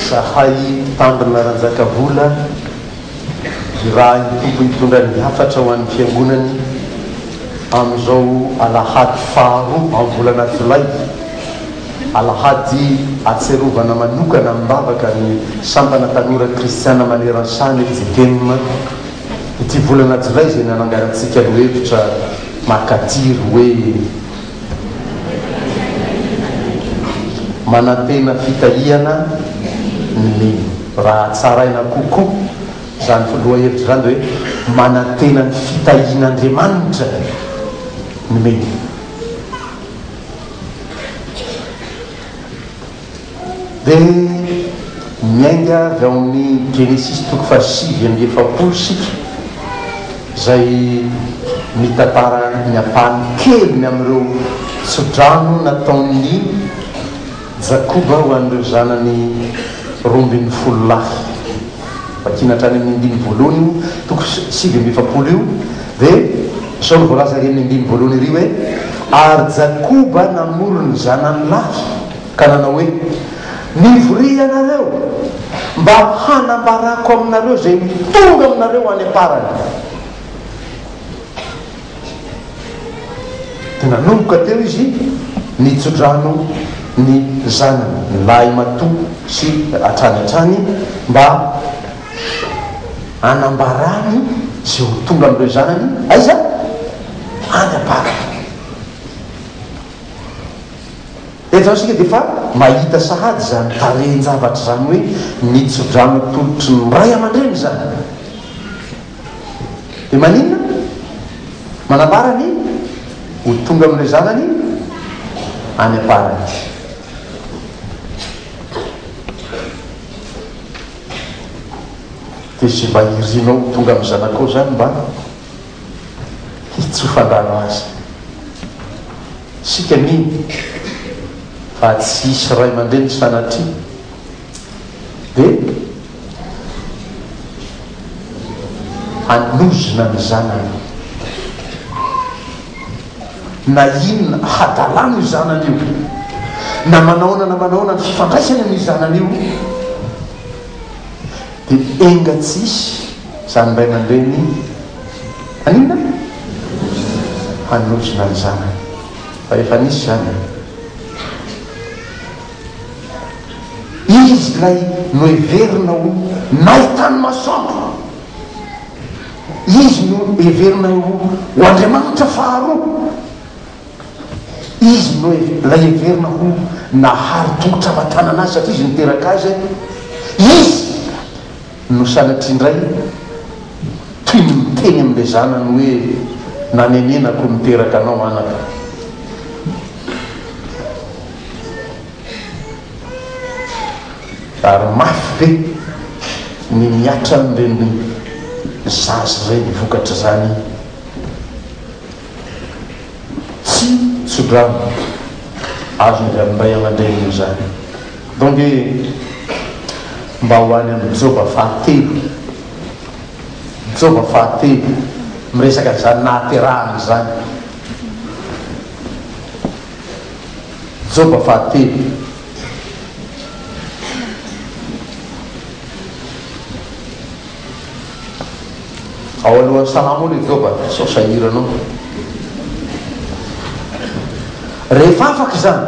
Zahay mpitandrina Ranjakavola, irahin'ny Tompo hitondra ny hafatra ho an'ny Fiangonany amin'izao alahady faharoa amin'ny volana jolay, alahady ahatsiarovana manokana amim-bavaka ny Sampana Tanora Kristiana maneran-tany, JKEM. ity volana jolay izay nananganantsika lohevitra makatiry hoe manantena fitahiana ny raha hatsaraina kokoa izany lohahevitra izany dia hoe manantena ny fitahian'Andriamanitra ny. Dia miainga avy ao amin'ny Genesisy toko fahasivy amby efapolo isika, izay mitantara ny ampahany keliny amin'ireo tsodrano nataon'i Jakoba ho an'ireo zanany roa ambin'ny folo lahy. Vakina hatrany amin'ny andininy voalohany io toko sivy amby efapolo io. Ve? Sao ny voalaza ery amin'ny andininy voalohany ery hoe, Ary Jakoba namory ny zanany lahy, ka nanao hoe, Mivoria ianareo, mba hanambarako aminareo izay ho tonga aminareo any am-parany. Dia nanomboka teo izy nitso-drano ny zanany lahimatoa sy hatrany hatrany mba. Anambarany izay ho tonga amin'ireo zanany, aiza? Any am-paka. Eto izao isika dia efa mahita sahady izany tarehin-javatra izany hoe ny tsodrano atolotry ny ray aman-dreny izany. Dia maninona? Manambara ny ho tonga amin'ireo zanany any am-paradis. Dia izay mba irinao ho tonga amin'ny zanakao izany mba hitsofan-drano azy. Isika mino fa tsy hisy ray aman-dreny sanatria dia hanozona ny zanany. na inona hadalana io zanany io, na manaona na manaona ny fifandraisany amin'io zanany io, dia enga tsy hisy izany ray aman-dreny haninona? hanozona ny zanany, fa efa nisy izany e! Izy ilay noheverina ho nahitan'ny masoandro, Izy no heverina ho ho Andriamanitra faharoa. Izy no ilay heverina ho nahary tongotra aman-tanana Azy satria Izy niteraka Azy. Izy no sanatria indray toy ny miteny amin'ilay zanany hoe, Nanenenako niteraka anao anaka. Ary mafy be ny mihatra amin'ireny zaza ireny vokatr'izany tsy tso-drano azo avy amin'ny ray aman-dreniny izany. Donge mba ho any amin'ny Joba fahatelo, Joba fahatelo miresaka an'izany nahaterahana izany. Joba fahatelo. Ao alohan'ny salamo ao ilay Joba, sao sahiranao. Rehefa afaka izany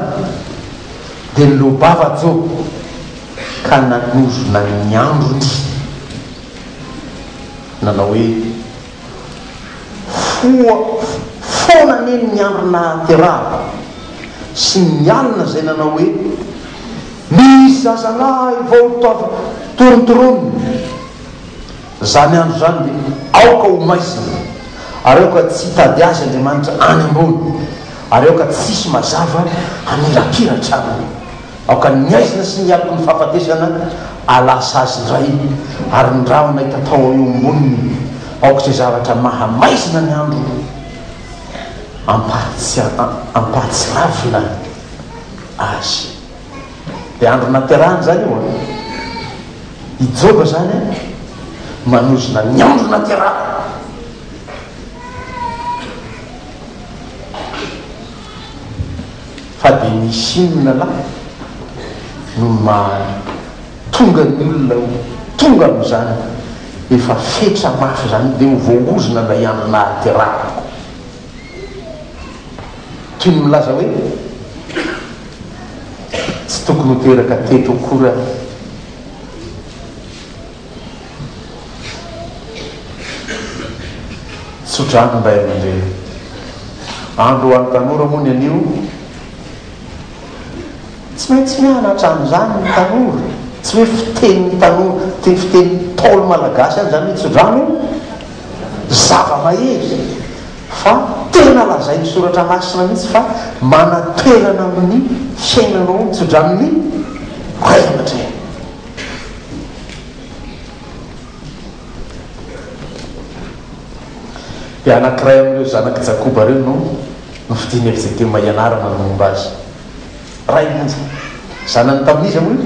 dia niloa-bava Joba ka nanozona ny androny nanao hoe. Koa foana anie ny andro nahaterahako sy ny alina izay nanao hoe, Misy zazalahy vao tonta torontoronina. Izany andro izany dia aoka ho maizina, ary aoka tsy hitady azy Andriamanitra any ambony, ary aoka tsisy mazava hamirapiratra aminy. Aoka ny aizina sy ny aloky ny fahafatesana alà sazy indray, ary ny ranona itatao eo amboniny, aoka izay zavatra mahamaizina ny andro ampahatsiravina azy. Dia andro naterahany izany io an! I Joba izany an, manozona ny andro naterahany. fa dia nisy inona lahy no maha tonga ny olona ho tonga amin'izany efa fetra mafy izany dia ho voahozona ilay andro nahaterahako toy ny milaza hoe tsy tokony ho teraka teto akory aho. Tso-drano ny ray aman-dreny. Andro ho an'ny tanora moa ny anio. Tsy maintsy mianatra an'izany ny tanora. Tsy hoe fitenin'ny tanora, fitenin'ny Ntaolo malagasy ihany izany hoe tso-drano e! Zava-mahery fa tena lazain'ny soratra masina mihitsy fa manatoerana amin'ny fiainanao ny tso-dranon'ny ray aman-dreny. Dia anankiray amin'ireo zanak'i Jakoba ireo no nofidiny ery Jetema hianarana ny momba azy. Ray monja. Zanany tamin'iza moa io?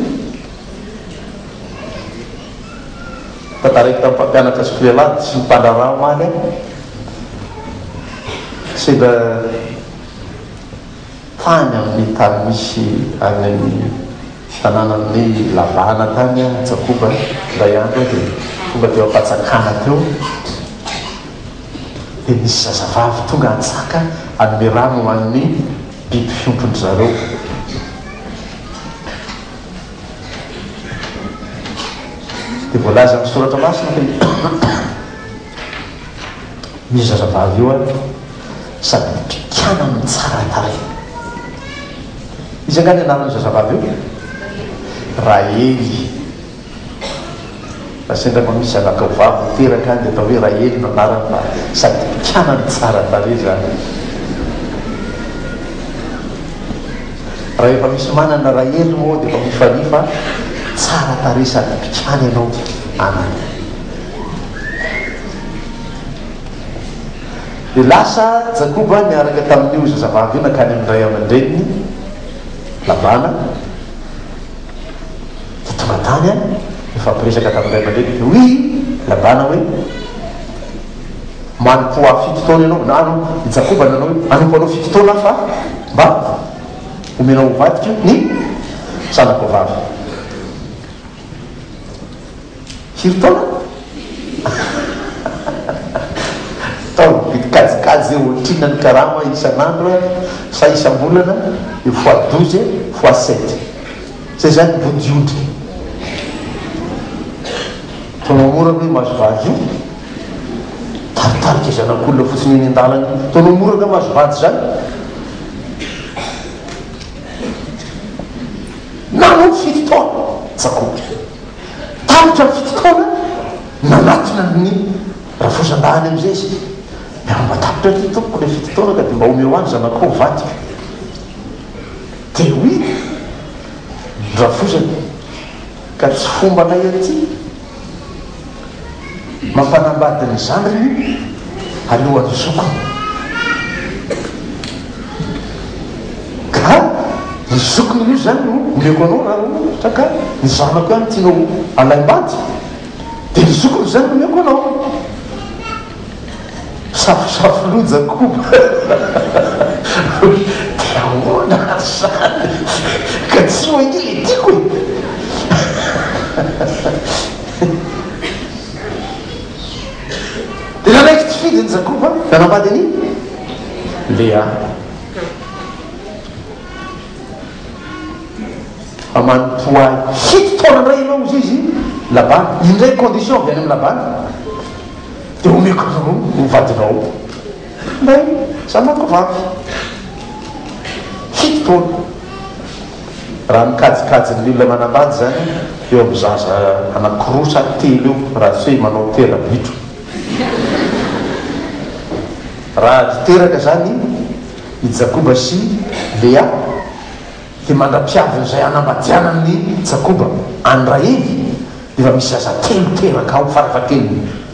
Tantaraiko tamin'ny mpampianatra azy Clelad sy ny mpandraharaha omaly aho. Sendra. Tany amin'ny tany misy an'i Fiananan'ny Lavahana tany i Jakoba indray andro aho dia tonga teo am-panjakana teo dia nisy zazavavy tonga hantsaka hanome rano ho an'ny biby fiompin-dry zareo dia voalaza amin'ny soratra masina fa io zazavavy io ary sady mitrikana amin'ny tsara tarehy. Iza angaha ny anaran'io zazavavy io? Raely. Raha sendra mba misy zanakao vavy ho teraka any dia atao hoe Raely no anarany fa sady mpikana no tsara tarehy izany. Raha efa misy manana Raely moa dia efa mifalia fa tsara tarehy sady mpikana ianao anany. Dia lasa Jakoba niaraka tamin'io zazavavy io nankany amin'ny ray aman-dreniny, Labana, dia tonga tany an, nifampiresaka tamin'ny ray aman-dreniny hoe, Hoy Labana hoe, Manompo ho ahy fito taona ianao, na aloha i Jakoba nanao hoe, Hanompo anao fito taona aho fa mba homenao ho vadiko ny zanako vavy. Hiro taona? Taona mividy kajikajy eo otrina ny karama isan'andro sa isam-bolana io fois douze fois sept zay zany vodiondry taona mora ve mahazo vady io? Taritarika zanak'olona fotsiny eny an-dalana io taona mora ve mahazo vady zany? Nanompo fito taona tsakoa. Tapitra ny fotoana nanatona an'i Rafosandahy amin'izay izy dia mba tapitra aty tompoko ilay fotoana ka dia mba omeo ahy ny zanakao ho vadiko. Dia hoy ny Rafosany, ka tsy fombanay aty. mampanambady ny zandriny alohan'ny zokiny ka ny zokiny aloha zany no omeko anao raha ohatra ka ny zanako ihany tianao alaim-bady dia ny zokiny zany no omeko anao safosafo loja koba dia ahoana ary zany ka tsy hoe ilay tiako e Dia nanaiky tsy fidy ny Jakoba, nanambady an'i Lea. Fa manompoa ahy fito taona indray ianao, hoy izy Labana. Indray condition avy any amin'i Labana, dia omeko anao ho vadinao ilay zanakivavy. Fito taona. Raha ny kajikajin'ny olona manambady izany eo amin'ny zaza anankiroa sa telo eo raha tsy hoe manao tera-bitro. Raha ady teraka izany i Jakoba sy Lea dia mandra-piaviny izay hanambadianan'i Jakoba an'i Rahely dia efa misy zaza telo teraka ao fara-fahakeliny.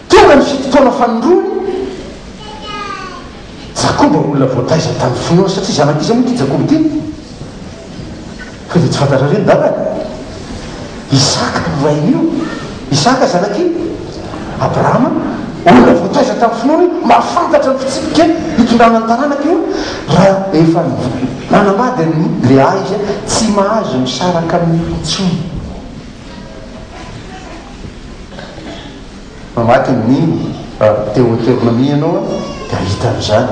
Tonga ny fitotoana fanondroany Jakoba, olona voataiza tamin'ny finoana, satria zanak'i Esao moa ity Jakoba ity, fa dia tsy fantatrareo ny dadany? Isaka no rain'io, Isaka zanak'i. Abrahama, olona voataiza tamin'ny finoana io, mahafantatra ny fitsipika hitondrana ny taranaka io, raha efa nanambady an'i Lea izy, tsy mahazo misaraka aminy intsony. Mamaky ny mino raha Deoteronomia ianao dia hahita an'izany.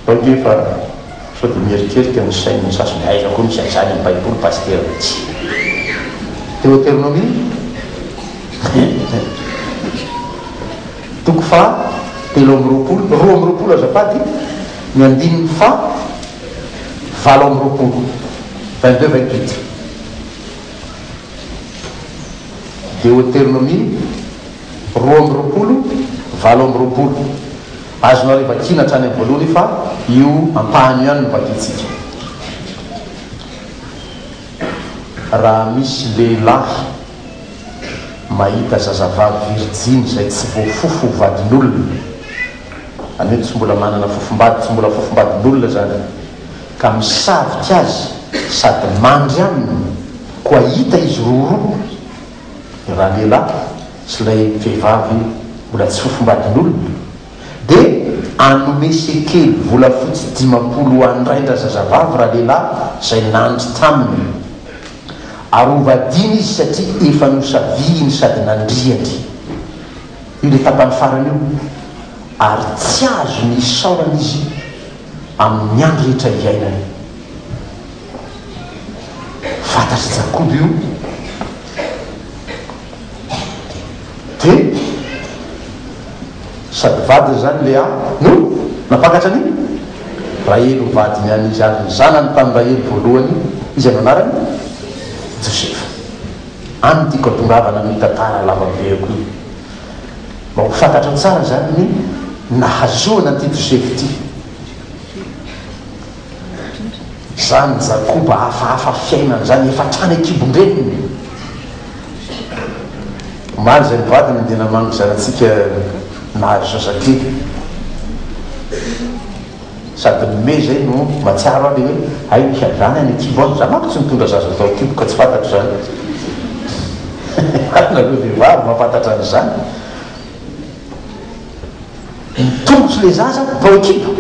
Sao dia efa sao dia mieritreritra ny sain'ny sasany hoe aiza koa misy an'izany amin'ny Baiboly Pasitera. Tsia. Deoteronomia toko faha telo amby roapolo, roa amby roapolo azafady, ny andininy faha. valo amby roapolo, vingt deux vingt huit, Deoteronomia roa amby roapolo, valo amby roapolo. Azonareo vakiana hatrany amin'ny voalohany fa io ampahany io ihany no vakintsika. Raha misy lehilahy mahita zazavavy virjiny izay tsy voafofo ho vadin'olona Izany hoe tsy mbola manana fofombady, tsy mbola fofombadin'olona izany, ka misavika azy sady mandry aminy, koa hita izy roaroa, ny ralehilahy sy ilay vehivavy mbola tsy fofombadin'olona, dia anome sekely volafotsy dimampolo ho an-drain-drazazavavy ralehilahy izay nandry taminy, ary hovadiana izy satria efa nosaviany sady nandriany. ilay tapany farany io ary tsy azony isaorana izy amin'ny andro rehetra iainany. Fantatr'i Jakoba io dia sady vadiny izany Lea no nampakatra ny Rahely ho vadiny an'izy ary ny zanany tamin'i Rahely voalohany izay no anarany Josefa. Any tiako atongavana amin'io tantara lavabeako io. Mba ho fantatro tsara izany ny nahazoana an'ity Josefa ity. Izany Jakoba hafahafa fiainana izany, efa hatrany an-kibon-dreniny. Omaly izay ny vadiny dia namangy zanatsika nahazo zazakely. Sady ny me zay no mahatsiaro ahy le hoe hay ny hiandrany any an-kibo any, za manko tsy nitondra zaza tao an-kibo ka tsy fantatro zany ary nareo vehivavy mampantatra an'izany, mitongotro le zaza tao an-kibo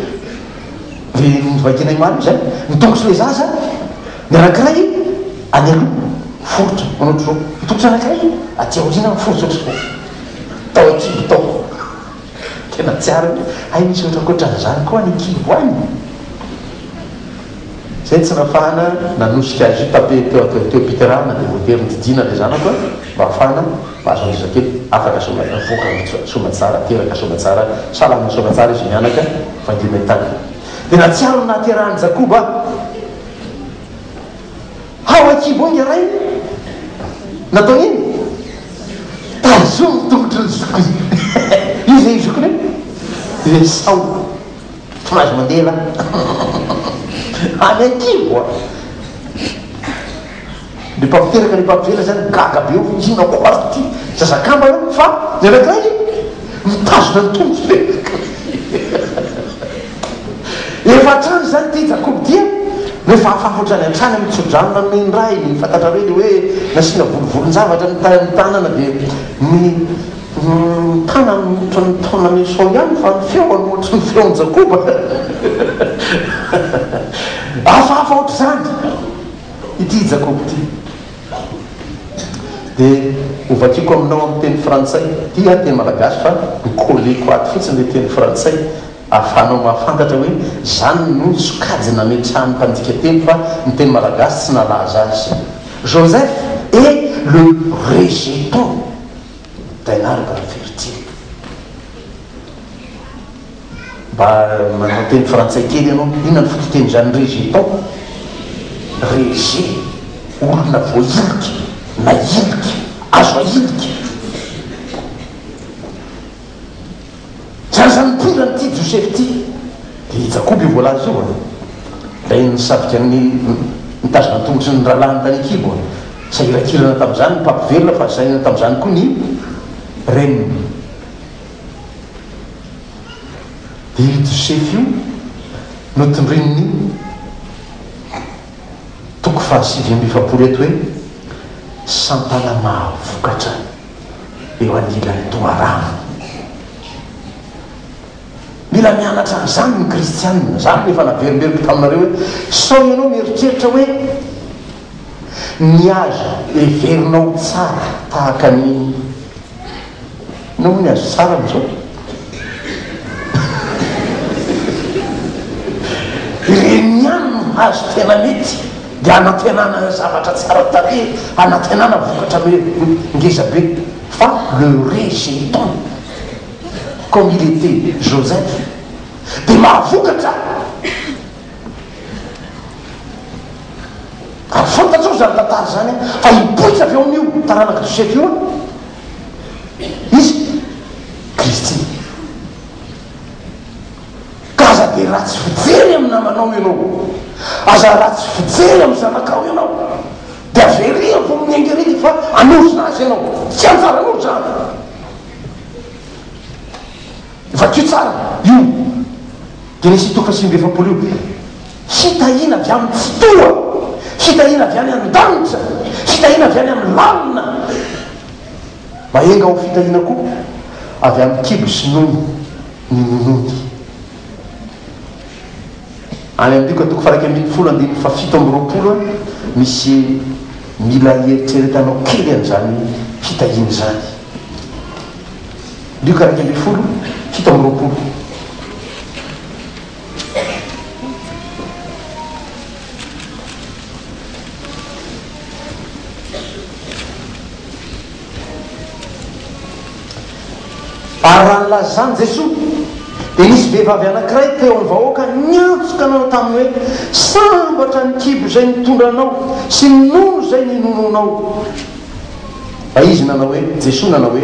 de novakiana i Mario zany, mitongotro le zaza ny anankiray any aloha miforitra manao ohatr'izao, mitongotro ny anankiray aty aoriana miforitra ohatr'izao tao an-kibo tao. Tena tsy ary hoe hay misy ohatra ankoatran'izany koa any Kibo any? Izay tsy nahafahana nanosika azy io tape teo atao teo am-piterahana dia voatery nodidiana ilay zanako an, mba hahafahana mahazo an'iza kely afaka soa voaka soamatsara teraka soamatsara salama soamatsara izy mianaka fa indreo miha tany dia nahatsiaro ny nahaterahan'i Jakoba aho. Ao an-kibo ao ny rainy. Nataony inona? Tazomy ny tongotry ny zokiny. Iza io zokiny io? I Esao. Tsy mahazo mandeha lahy. Any an-kibo a! Ny mpampiteraka ny mpampivela izany gaga be hoe inona koa ary ity zaza kambana io fa ny anankiray mitazona ny tongotry ny anankiray. Efa hatrany izany ity Jakoba ity a! Rehefa hafahoatra any hatrany amin'ny tso-drano na main raha iny, fantatrareo ilay hoe nasiana volovolon-javatra ny ta ny tanana dia ny ny tanany ohatry ny taonan'i Esao ihany fa ny feony ohatry ny feon'i Jakoba. Hafahafa ohatr'izany ity Jakoba ity. Dia hovakiko aminao amin'ny teny frantsay, ity aho teny malagasy fa ni-coller-ko ato fotsiny ilay teny frantsay. Ahafahanao mahafantatra hoe izany no sokajy nametrahan'ny mpandika teny fa ny teny malagasy tsy nalaza azy. Joseph est le rejeton d'un arbre fertile. Mba manao teny frantsay kely ianao, inona ny fototenin'izany rejeton? Rejet, olona voahilika na hilika, azo ahilika. Zaza mitondra an'ity Joseph ity dia Jakoba io voalaza io an! Ilay nisabika ny nitazona ny tongotry ny rahalahiny tany an-kibo an! Sahirankirana tamin'izany ny mpampivelona fa sahirana tamin'izany koa ny reniny. Dia io Joseph io notondroin'ny toko fahasivy amby efapolo eto hoe Santana mahavokatra. eo anilan'ny toharano. Mila mianatra an'izany ny kristiana. Izany no efa naverimberiko taminareo hoe sao ianao mieritreritra hoe ny azo heverinao tsara tahaka ny inona moa ny azo tsara amin'izao? Ireny ihany no azo tena mety. dia hanantenana zavatra tsara tarehy, hanantenana vokatra ngeza be, fa le rejeton comme il etait Joseph dia mahavokatra ary fantatrao izany tantara izany an, fa hipoitra avy eo amin'io taranaka Joseph io an, izy Kristy. Ka aza dia ratsy fijery amin'ny namanao ianao, aza ratsy fijery amin'ny zanakao ianao, dia avereno amin'ny engerika fa hanozona azy ianao. Tsy anjaranao izany. Vakio tsara io Genesisy toko fahasivy amby efapolo io. Fitahiana avy amin'ny Tsitoha, fitahiana avy any an-danitra, fitahiana avy any amin'ny lalina. Mahenga ho fitahiana koa avy amin'ny kibo sy nono. Ny Moloto. Any amin'ny Lioka toko faha-iraika ambin'ny folo andininy faha-fito amby roapolo, misy mila hieritreretanao kely an'izany fitahiana izany. Lioka iraika ambin'ny folo, fito amby roapolo. Ary raha nilazan'i Jesoa, dia nisy vehivavy anankiray teo amin'ny vahoaka niantso ka nanao taminy hoe, Sambatra ny kibo izay nitondra anao sy ny nono izay ninonoanao. Fa izy nanao hoe, Jesoa nanao hoe,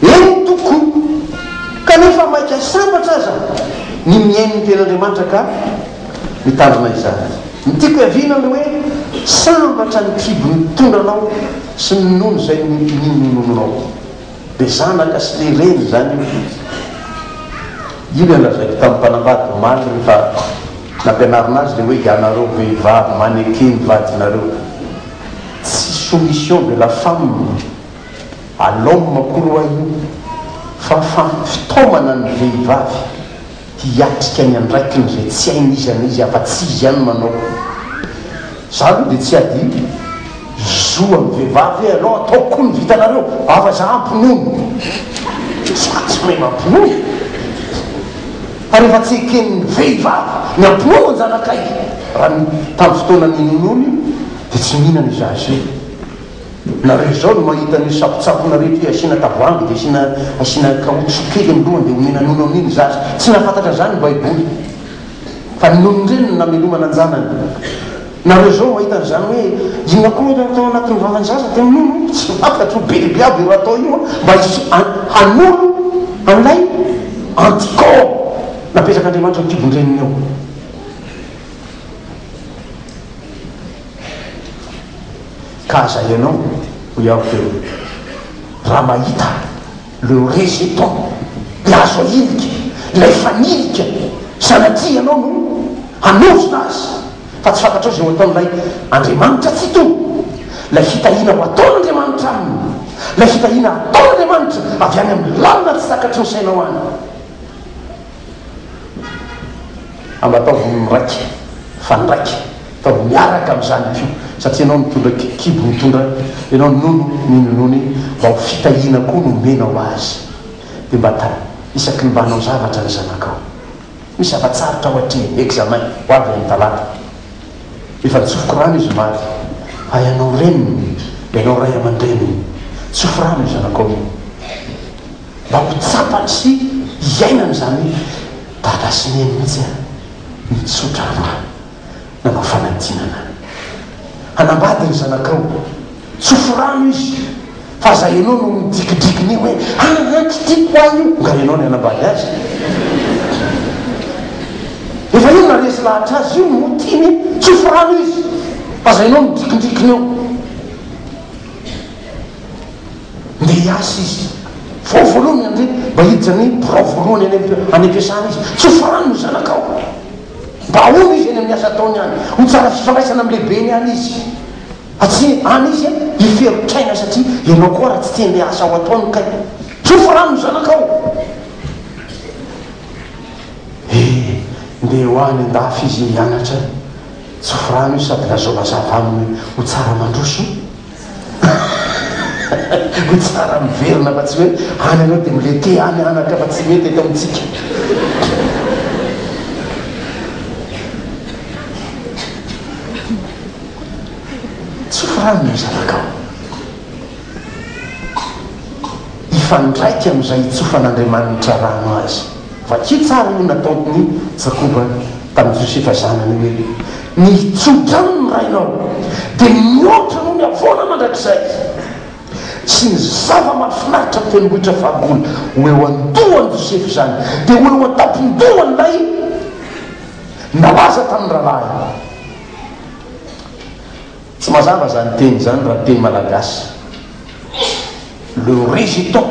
Eny, Tompoko, kanefa maika sambatra aza ny mihaino ny tenin'Andriamanitra ka. mitandrina izany. Ny tiako hiaviana ny hoe sambatra ny kibo nitondra anao sy ny nono izay ninonominao. Be zanaka sy be reny izany io Didy. Io ilay nolazaiko tamin'ny mpanambady omaly rehefa nampianarina azy ilay hoe ianareo vehivavy maneke ny vadinareo. Tsy soumission de la femme à l'homme akory ho'a io fa fa fitaomana ny vehivavy. Hiatrika ny andraikiny izay tsy hainy iza na iza afa-tsy izy ihany manao. Izaho aloha dia tsy hadino. Zo amin'ny vehivavy ve ianao? Ataoko koa ny vitanareo. Ava izaho hampinono. Izaho tsy mahay mampinono. Ary efa tsy eken'ny vehivavy ny hampinono an-janakay. Raha ny tamin'ny fotoana ninonoany dia tsy nihinana izaho izay. Nareo izao no mahita an'io sampotsampona rehetra io, asiana tavoahangy dia asiana asiana kaotsy kely ny lohany dia omena nono amin'iny zaza. Tsy nahafantatra an'izany ny baiboly fa ny nonon-dreniny no namelomana an-janany. Nareo izao mahita an'izany hoe inona koa ilay atao anatin'ny vavan'ny zaza dia minono? Tsy fantatro ho biby aby io atao io mba hisy hanolo an'ilay anticorps napetrak'Andriamanitra ao an-kibon-dreniny ao. Ka aza ianao, hoy aho teo, raha mahita le rejeton dia azo ahilika ilay fanilika sanatria ianao no hanozona azy fa tsy fantatrao izay ho ataon'ilay Andriamanitra Tsitoha, ilay fitahiana ho ataon'Andriamanitra aminy, ilay fitahiana ataon'Andriamanitra avy any amin'ny lalina tsy takatry ny sainao any. Ary mba ataovy miraika fa ndraika, ataovy miaraka amin'izany koa, satria ianao nitondra kibo nitondra, ianao ninono ny ninoany, mba ho fitahiana koa no omenao azy. Dia mba ta, isaky ny mba hanao zavatra ny zanakao. Misy zava-tsarotra ao atrehiny, examen, ho avy any talata. Efa nitsofoko rano izy omaly. Fa ianao reniny, ianao ray aman-dreniny, tsofy rano io zanakao io. Mba ho tsapany sy hiainany izany hoe Dada sy Neny mihitsy aho nitsotra rano nanao fanadinana. Hanambady ny zanakao, tsofy rano izy fa aza ianao no midrikidrikiny eo hoe aa tsy tiako ahy io, nga ianao no hanambady azy? Efa io naharesy lahatra azy io no ho tiany, tsofy rano izy fa aza ianao no midrikidrikiny eo. Ndeha hiasa izy. Vao voalohany handre, mba hiditra ny birao voalohany any any am-piasana izy. Tsy ho farany ny zanakao. Mba ahoana izy eny amin'ny asa ataony any? Ho tsara fifandraisana amin'ny lehibeny any izy. Fa tsy any izy hiferotr'aina satria ianao koa ary tsy tia an'ilay asa ho ataony kay. Tsy ho farany ny zanakao. E! Ndeha ho any an-dafy izy hianatra. Tsy ho farany io sady lazao mazava aminy hoe ho tsara mandroso. Ho tsara miverina fa tsy hoe any anao dia milete any anaka fa tsy mety eto amintsika. Tsofa rano ny zanakao. Hifandraika amin'izay itsofan'Andriamanitra rano azy. Vakio tsara io nataon'ny Jakoba tamin'i Josefa zanany hoe, Nitsotra aminy ny rainao, dia nihoatra noho ny havoana mandrakizay, sy ny zava-mahafinaritra amin'ny tendrombohitra faribola, ho eo an-dohan'i Josefa izany, dia ho eo an-tampon-dohan'ilay nalaza tamin'ny rahalahiny. Tsy mazava izany teny izany raha ny teny malagasy, le résistant.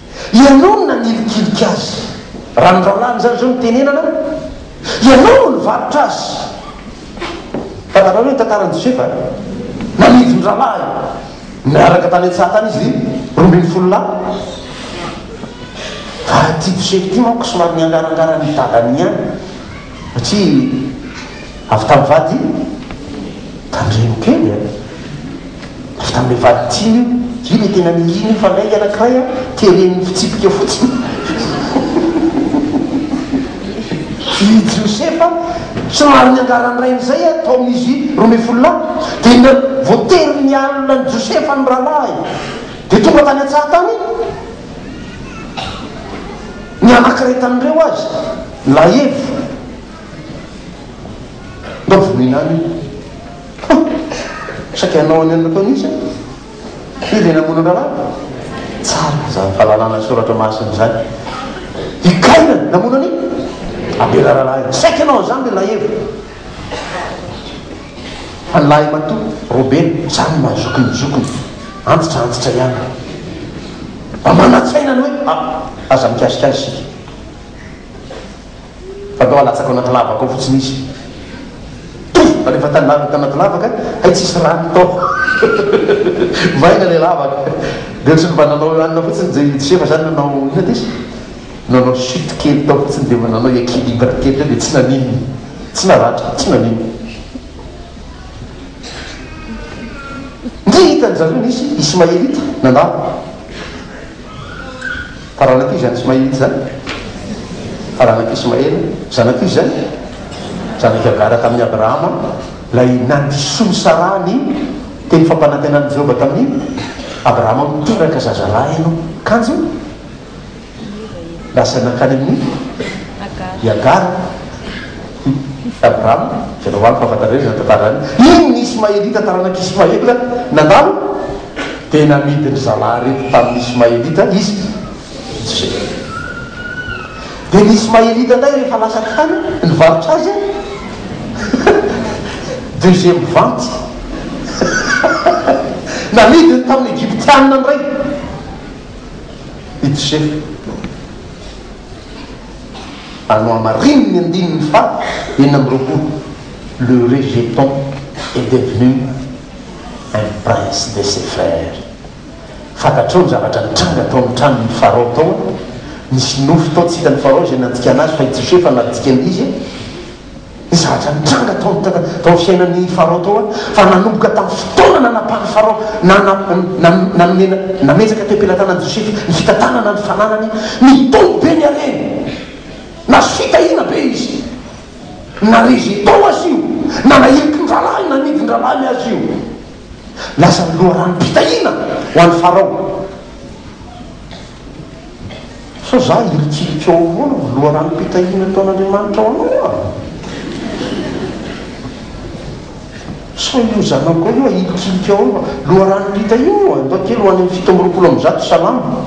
Ianao no nanilikilika azy. Raha ny rahalahy an'izany izao no tenenana, ianao no nivarotra azy. Fantatrao ve ny tantaran'i Josefa? Nanidy ny rahalahy. Niaraka tany an-tsaha tany izy roa ambin'ny folo lahy. Fa ity Josefa ity manko somary niangarangaran'ny dadany ihany, satria. Avy tamin'ny vady tandremo kely a! Avy tamin'ilay vady tiany io. Dia io ilay tena niriny io fa lainga anankiray a, teren'ny fitsipika fotsiny. I Josefa somary niangara ny rainy izay a, taomin' izy roa ambin'ny folo lahy. Dia na, voatery nialona an'i Josefa ny rahalahiny. Dia tonga tany an-tsaha tany ny anankiray tamin'ireo azy, Laevo. Mba voina any io. Saika hanao any amin'ny nataony izy an. Dia ilay namono an-draharaha? Tsara izany fahalalana ny soratra masina izany. I Kaina namono an' i Abela rahalahiny. Saika hanao an'izany ilay lahieva. Fa ny lahimatoa Robena samy mahazoky ny zokiny. Antitra antitra ihany. Mba manan-tsaina ny hoe, ah, aza mikasika azy isika. Fa ndao alatsako anaty lavaka ao fotsiny izy. Toa! Fa rehefa tandaviny tanaty lavaka, hay tsisy rano tao. Vaina ilay lavaka. Dia tsy mba nanao hanina fotsiny JJ fa zany nanao inona ty izy? Nanao chute kely tao fotsiny dia mba nanao equilibre kely teo dia tsy naninona. Tsy naratra, tsy naninona. Ndry hitan-dry zareo nisy Ismaelita nandalo. Taranak'i Ismaila izany, taranak'i Ismaila, zanak'i Isaac, zanak'i Hagara tamin'i Abrahama, ilay nandrosoan'i Saraha ny teny fampanantenan'i Jehovah tamin'i Abrahama, Miteraka zazalahy ianao. Kanjo. Lasa nankany amin'i. Agara. I Agara. Hum. Abraham. Jereo amiko hahafantareo izany tantara izany. Iny ny Ismaelita taranak'i Ismaela nandalo dia namidy ny zalahy rehetra tamin'ny Ismaelita izy. Joseph. Dia ny Ismaelita indray rehefa lasa tany nivarotra azy an. Deuxième vente. Namidiny tamin'ny Egyptianina indray. i Josefa. Ary nohamariny ny andininy faha enina amby roapolo, Le rejeton est devenu un prince de ses frères. Fantatrao ny zavatra nitranga tao amin'ny tranon'i Farao tao an? Nisy nofy tao tsy hitan'i Farao izay nandikana azy, fa i Josefa no nandikana izy. ny zavatra nitranga tao amin'ny tana, tao amin'ny fiainan'i Farao tao an, fa nanomboka tamin'ny fotoana nanapan'i Farao na, na, na, nanome, nametraka teo am-pelatanan'i Josefa ny fitantanana ny fananany, nitombo be ny hareny. Nahazo fitahiana be izy. Nare izay tao aza io, na nahiliky ny rahalahy, na nidin'ny rahalahiny aza io. Lasa loharanom-pitahiana ho an'i Farao. Sao za hiritiritika ao ahoana ho loharanom-pitahiana ataon'Andriamanitra ho anao aho? Sao io zanako io ahirikiririka ao ahoana ho loharanom-pitahiana io andao kely ho any amin'ny fito amby roapolo amby zato salamo.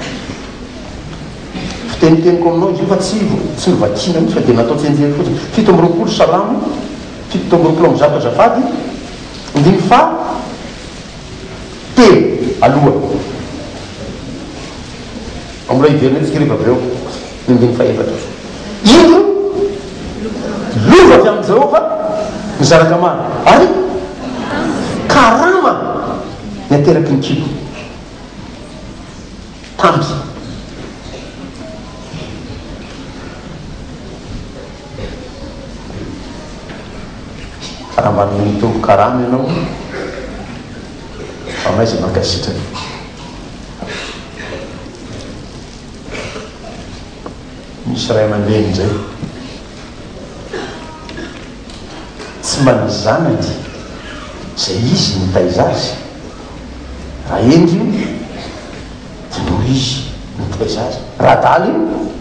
Fiteniteniko aminao izy io fa tsy tsy novakiana mihitsy fa dia natao tsenjery fotsiny. Fito amby roapolo salamo fito amby roapolo amby zato azafady, andininy faha Teny, aloha. Ao mbola hiverina etsika ireo Hebreo, ny andininy fahaefatra. Indro, lova avy amin'i Jehovah ny zanaka maro, ary karama ny ateraky ny kibo. Tamby. Raha mba noho nitombo karama ianao fa maiza mankasitraka. Misy ray aman-dreny izay tsy mba ny zanany izay izy no nitaiza azy. Raha hendry io dia noho izy no nitaiza azy. Raha adala io.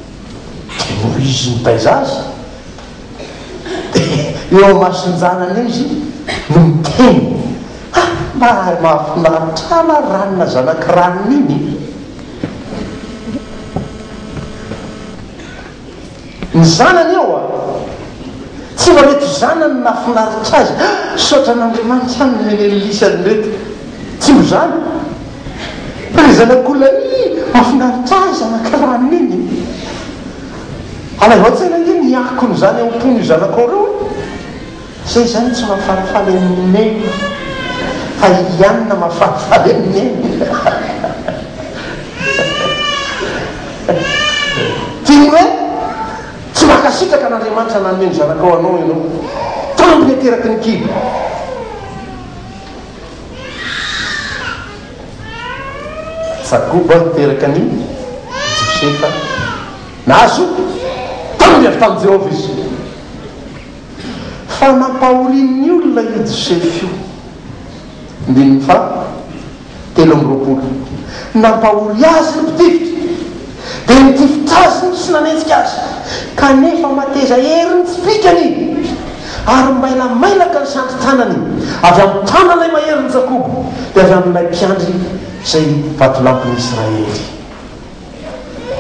Io izy mitaiza azy dia eo amason-janany eo izy no miteny Ha! mba ary mahafinaritra ahy na ranona zanaky ranona iny e! Ny zanany eo a! Tsy mba reto zanany no nahafinaritra azy, Ha! misaotra an'Andriamanitra a! nomeny an'i Lisy an'ireto. Tsy ho zany? Fa le zanak'olona ii mafinaritra ahy zanaka rano iny e! Alaivo an-tsaina ange ny akony zany ao am-pon'io zanakao reo e! Zay zany tsy mahafalifaly an'i Neny fa i Liana mahafalifaly an'i Neny Tiany hoe tsy mankasitraka an'Andriamanitra nanome ny zanakao anao ianao. Tambiny ateraky ny kibo. Sakoba niteraka an'i Josefa. Nahazo taminy avy tamin'i Jehovah izy. Fa nampahorian'ny olona io Josefa io. Andininy faha telo amby roapolo. Nampahory azy ny mpitifitra. dia nitifitra azy ny tsy nanenjika azy, kanefa mateza ery ny fipikany, ary mailamailaka ny sandrin-tanany avy amin'ny tanan'ilay maherin'i Jakoba, dia avy amin'ilay mpiandry izay vatolampin'i Israely.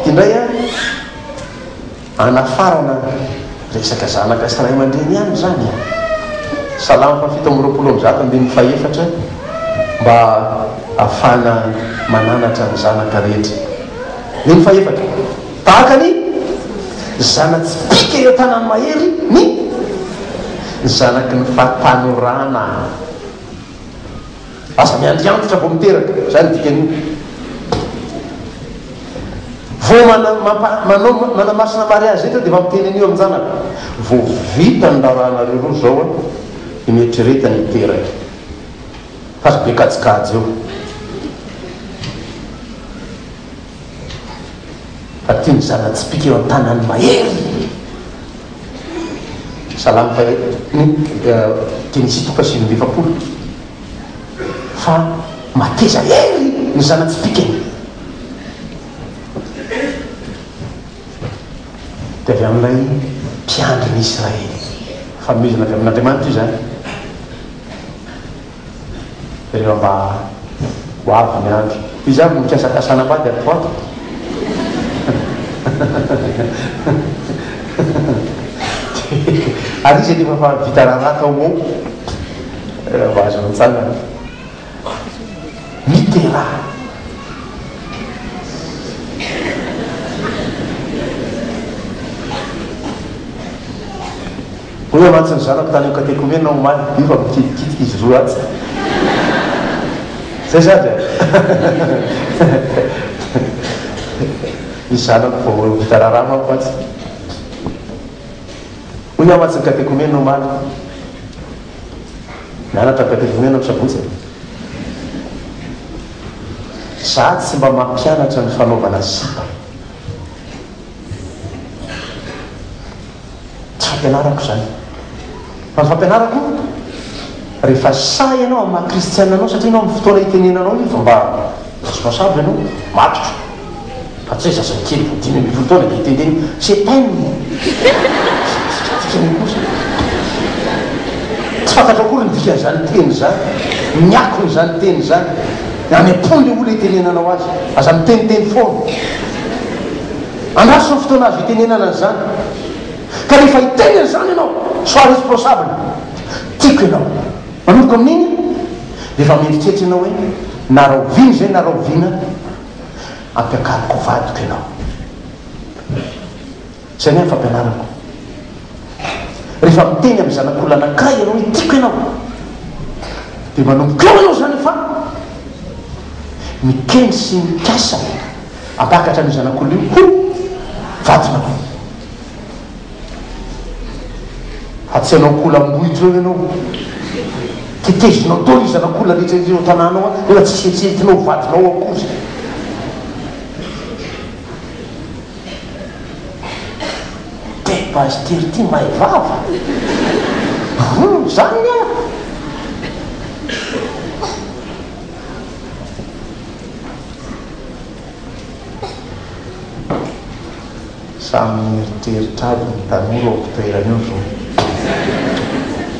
Ity indray an! Anafarana resaka zanaka sy ray aman-dreny ihany izany e! Salamo fahafito amby roapolo amby zato ambin'ny fahefatra mba hahafahana mananatra ny zanaka rehetra. Ny fahefatra, tahaka ny zana-tsipìka eo an-tanan'ny mahery ny zanaky ny fahatanorana. Aza miandry antitra vao miteraka, izany ny dikan'io. Vao mana, mampa, manao, manamasina mariazy rehetra dia efa miteny an'io amin-janaka. Vao vita ny raharahanareo roa izao an, dia mieritrereta ny hiteraka. Fa aza be kajikajy eo. Fa ty mizara tsipika eo an-tanan'ny mahery. Salamo fahefampolo, teny Isitoka sivy amby efapolo, Fa mateza hery ny zana-tsipikany. Dia avy amin'ilay Mpiandry ny Israely. Fanomezana avy amin'Andriamanitra izany. Tena mba ho avy ny andro izy avy mikasakasana mba dia poa ary izy efa efa vita raharaha tao mo tena mba azo mitsangana mitera Hoy mantsy ny zanako tany katekomena omaly, io fa mikitikitika izy roa atsy. Zay za dia ny zanako vao vita raharaha manko atsy. Hoy aho mantsy ny katekomena omaly, mianatra ny katekomena ny sabotsy e. Za tsy mba mampianatra ny fanaovana sipa. Tsy fampianarako izany. Fa ny fampianarako, rehefa sahy ianao amin'ny maha kristiana anao, satria ianao amin'ny fotoana itenenanao io efa mba responsable ianao, matotra. Fa tsy hoe zazakely dimy ambin'ny folo taona dia iteneniny, c'est peine! Tsy fantatrao akory ny dikan'izany teny izany, ny akon'izany teny izany. Raha ny ampony le olona itenenanao azy, aza miteniteny foana. Andraso ny fotoana azo itenenana an'izany. Ka rehefa hiteny an'izany ianao, sois responsable. Tiako ianao. Manomboka amin'iny, rehefa mieritreritra ianao hoe, na rahoviana izay na rahoviana, ampiakariko ho vadiko ianao. Izay ny ahy ny fampianarako. Rehefa miteny amin'ny zanak'olon'anankiray ianao hoe tiako ianao, dia manomboka eo ianao izany fa mikendry sy mikasa hampakatra an'io zanak'olona io ho vadinao. Fa tsy hanao akoho lambohitra eo ianao. Tetezinao daholo ny zanak'olona rehetra eo an-tanànao nefa tsy hihetsehetsena ho vadinao akory. Telo base tir ty may vava. Rony zany ny ahy. Samy mieritreritra aby ny tanora ao mpitoerana eo zao.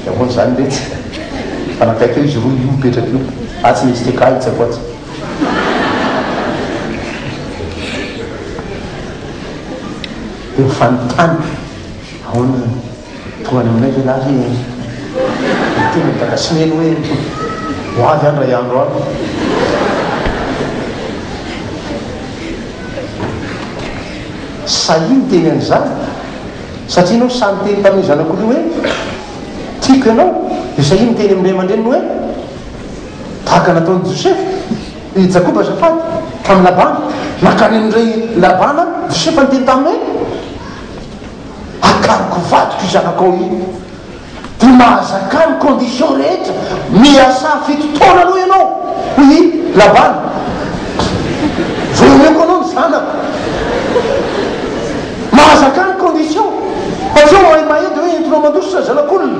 Dia ahoana zany letsy? Fa nakaiky eo izy roa io mipetraka io. Atsy ny STK itsako atsy. Dia fanontany, ahoana no tohany aminay ve lahy e? Dia teny ny dada sy neny hoe, ho avy aho indray andro any. Sahia niteny an'izany, satria ianao sahy niteny tamin'io zanako io hoe, tiako ianao, dia sahia niteny amin'ny ray aman-dreniny hoe, Tahaka nataon'i Josefa, i Jakoba azafady, tamin'i Labana. Nankany amin-dry Labana Josefa niteny taminy hoe, Akariko ho vadiko io zanako ao io. Dia mahazaka ny condition rehetra. Miasà fito taona aloha ianao, hoy i Labana, vao omeko anao ny zanako. Mahazaka ny condition. Fa tsy hoe mahimahay dia hoe entinao mandositra ny zanak'olona.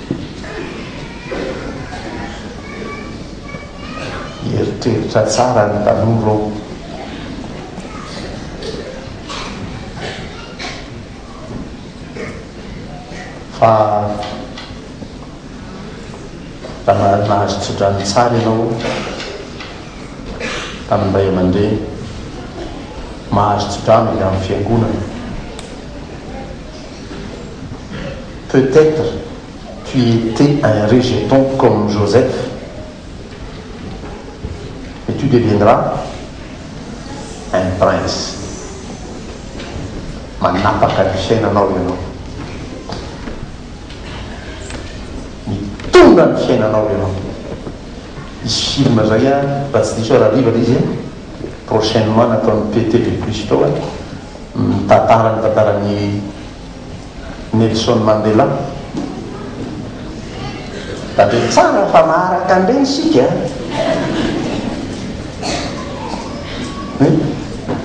Nieritreritra tsara ny tanora ô! Fa raha nahazo tsodrano tsara ianao tamin'ny ray aman-dreny, mahazo tsodrano avy amin'ny fiangonana. peut etre tu etais un rejeton comme Joseph et tu deviendras un prince manapaka ny fiainanao ianao mitondra ny fiainanao ianao hisy film zay an raha tsy diso aho raha live ilay izy an prochainement nataon'i Pete Be Plus Teo an. Mitantara ny tantaran'i Nelson Mandela. Tandremo tsara fa maharaka an'ireny isika e!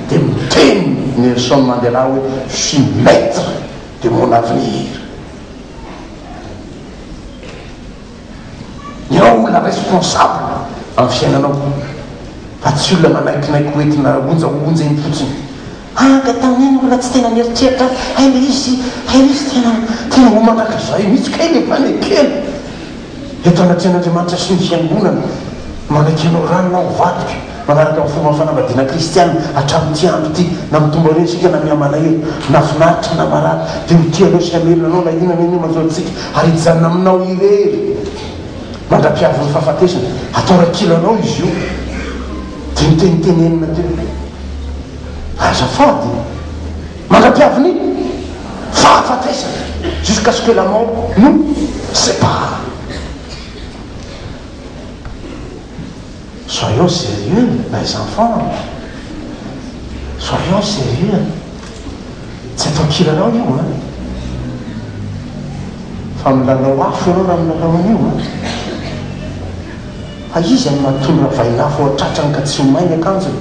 Dia miteny Nelson Mandela hoe Je suis maitre de mon avenir. Ianao no olona raisiko ho sabo amin'ny fiainanao, fa tsy olona manaikinaiky ho entina onja ho onja eny fotsiny. Hanga tamin'iny mbola tsy tena nieritreritra aho fa hay le izy, hay le izy tena, tena ho mandrakizay mihitsy kay le fanekena. Eto anatrehan'Andriamanitra sy ny Fiangonana, manaiky anao ranona ho vadiko. Manaraka ny fomba fanambadiana kristiana hatramin'ity andro ity na mitombo aloha isika na mihamalahelo, na finaritra na marary dia ho tia anao sy hamelona anao na inona na inona manjo antsika ary hijanona aminao irery mandra-piavin'ny fahafatesana. Atao rakilanao izy io dia notenitenenina teo hoe, Azafady, mandra-piavin'ny fahafatesana, jusqu'à ce que la mort nous sépare. Soyons serieux les enfants a! Soyons serieux a! Tsy atao kilalao io a! Fa milalao afo ianao raha milalao an'io a! Fa iza no matory ravain'afo ao an-tratrany ka tsy ho may ny akanjony?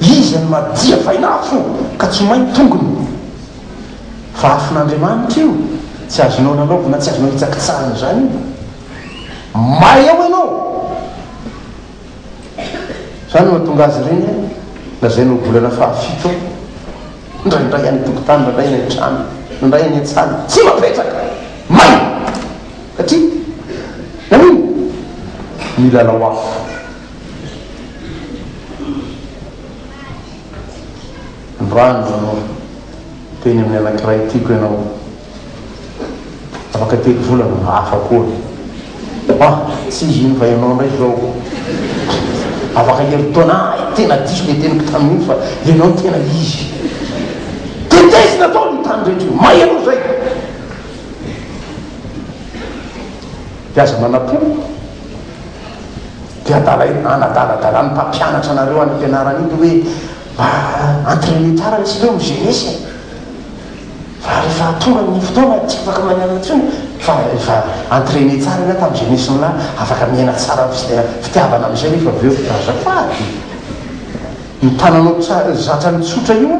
Iza no madia vain'afo ka tsy ho may ny tongony? Fa afon'Andriamanitra io, tsy azonao lalaovina, tsy azonao hitsakitsahina izany io. May ao ianao! Izany no nahatonga azy ireny hoe lazaina ho volana fahafito ao. Indraindray any an-tokotany, indraindray any an-trano, indraindray any an-tsana. Tsy mapetraka! May! Satria nanino? Nilalao afo. Androany izao, niteny amin'ny anankiray tiako ianao. Afaka telo volana hafa koa. Ah, tsy izy iny fa ianao indray izao. Afaka herintaona. Hay tena diso ilay teniko tamin'iny fa ianao no tena izy. Tetezina daholo io tany rehetra io. May aloha izay. Dia aza manapo. Dia adala eny, anadaladala ny mpampianatra anareo any am-pianarana iny hoe mba entraîner tsara ilay site hoe migerer-sa e. Fa rehefa tonga ny fotoana tsy afaka mañana intsony fa efa entraîner tsara ianao tam jeunesse nao afaka miaina tsara am fitiavana amizay nefa avy eo azafady io tananao tsara zatra ny tsotra io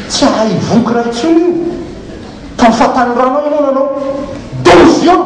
tsy ahay hivoky raha intsony io tam fahatanorana ianao nanao douze ans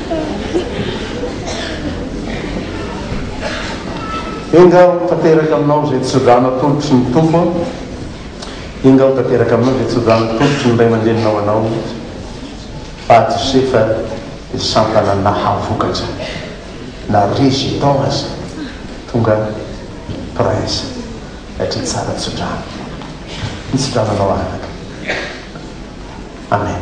Enga ho tanteraka aminao izay tsodrano atolotry ny Tompo Enga ho tanteraka aminao izay tsodrano atolotry ny ray aman-dreninao anao fa Josefa dia sampana nahavokatra na rejetant aza tonga prince satria tsara tsodrano ny tsodranonao anaka Amen